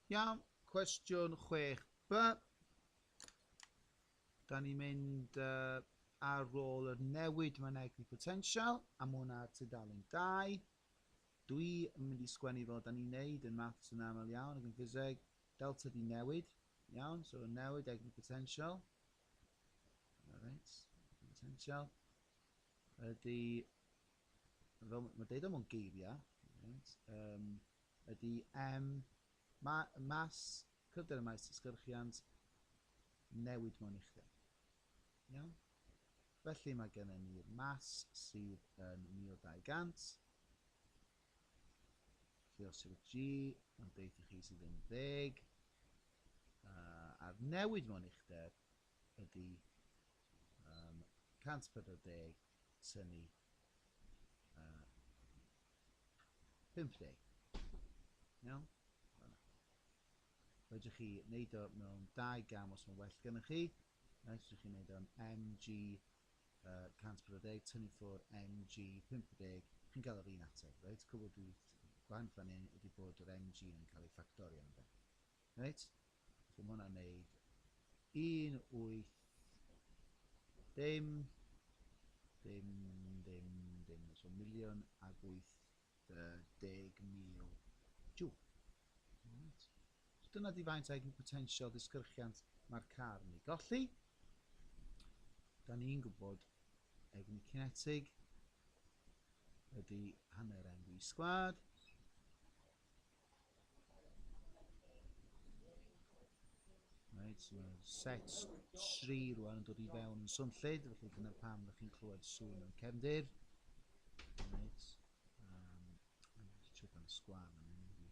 Iawn, cwestiwn 6b. Da ni'n mynd uh, ar ôl yr newid myneglu potensial, a mae hwnna tudalen 2. Dwi yn mynd i sgwennu fel da ni'n neud yn maths yn aml iawn ac yn ffiseg. Delta di newid, iawn, so newid egni potensial. Reit, potensial. Ydy fel mae'n deud o mewn geiriau, right, um, ydy M, ma, mas, cryfder y maes tysgyrchiant, newid mewn uchder. Iawn? Felly mae gennym ni'r mas sydd yn 1200, lle os yw'r G yn deud i chi sydd yn ddeg, uh, a'r newid mewn uchder ydy um, 140 tynnu a 50. Iawn? Fanna. Fedrwch chi wneud o mewn dau gam os mae'n well gennych chi. Fedrwch chi wneud o'n MG uh, 140, tynnu ffwr MG 50, chi'n cael yr un ateb, reit? Cwbl dwi gwahanol fan hyn ydy bod yr MG yn cael ei ffactorio yn fe. Reit, so mae hwnna'n neud 1, 8, dim, dim, dim, dim, so miliwn ag 80,000 jw. Right. So dyna di faint ag potensial disgyrchiant mae'r car yn ei golli. Da ni'n gwybod egni cinetig ydy hanner MV sgwad. Reit, so mae set 3 rwan yn dod i fewn yn swnllyd, felly dyna pam ydych chi'n clywed sŵn yn cefndir. Reit, um, check am sgwar yn mynd i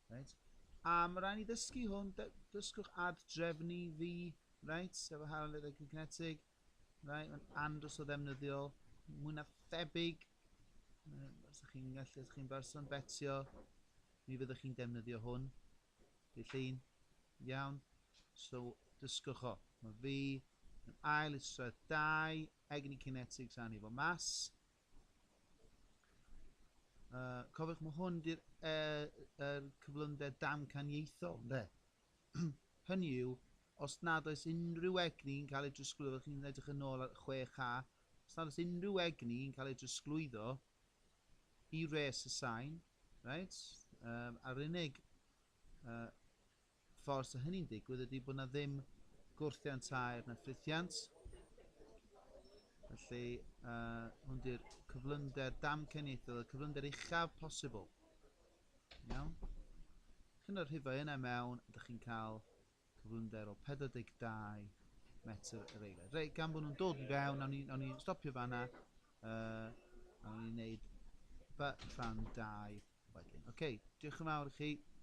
Reit, a mae rhaid ni ddysgu hwn, dysgwch ad drefnu fi, reit, sef y harledd y cyncetig, reit, mae'n andros o ddefnyddiol, mwy na thebyg, Os ydych chi'n gallu, os chi'n berson betio, mi fyddwch chi'n defnyddio hwn. Di llun. Iawn. So, dysgwch o. Mae fi yn ail isradd dau egni kinetics a ni fo mas. Uh, cofiwch, mae hwn di'r er, er cyflymder damcaniaethol, ynddo? Hynny yw, os nad oes unrhyw egni yn cael ei drosglwyddo, chi'n edrych yn ôl ar 6A, os nad oes unrhyw egni yn cael ei drosglwyddo i res y sain, reit, um, a'r unig uh, ffordd sydd hynny'n digwydd ydy bod yna ddim gwrthiant aer na ffrithiant. Felly, uh, hwn di'r cyflymder damcaniaethol, y cyflymder uchaf posibl. Iawn? Chi'n y rhifau yna mewn, ydych chi'n cael cyflymder o 42 metr yr eiliad. Reit, gan bod nhw'n dod i fewn, nawn ni, nawn ni stopio fanna, uh, nawn ni wneud by rhan 2 wedyn. Oce, okay, diolch yn fawr i chi.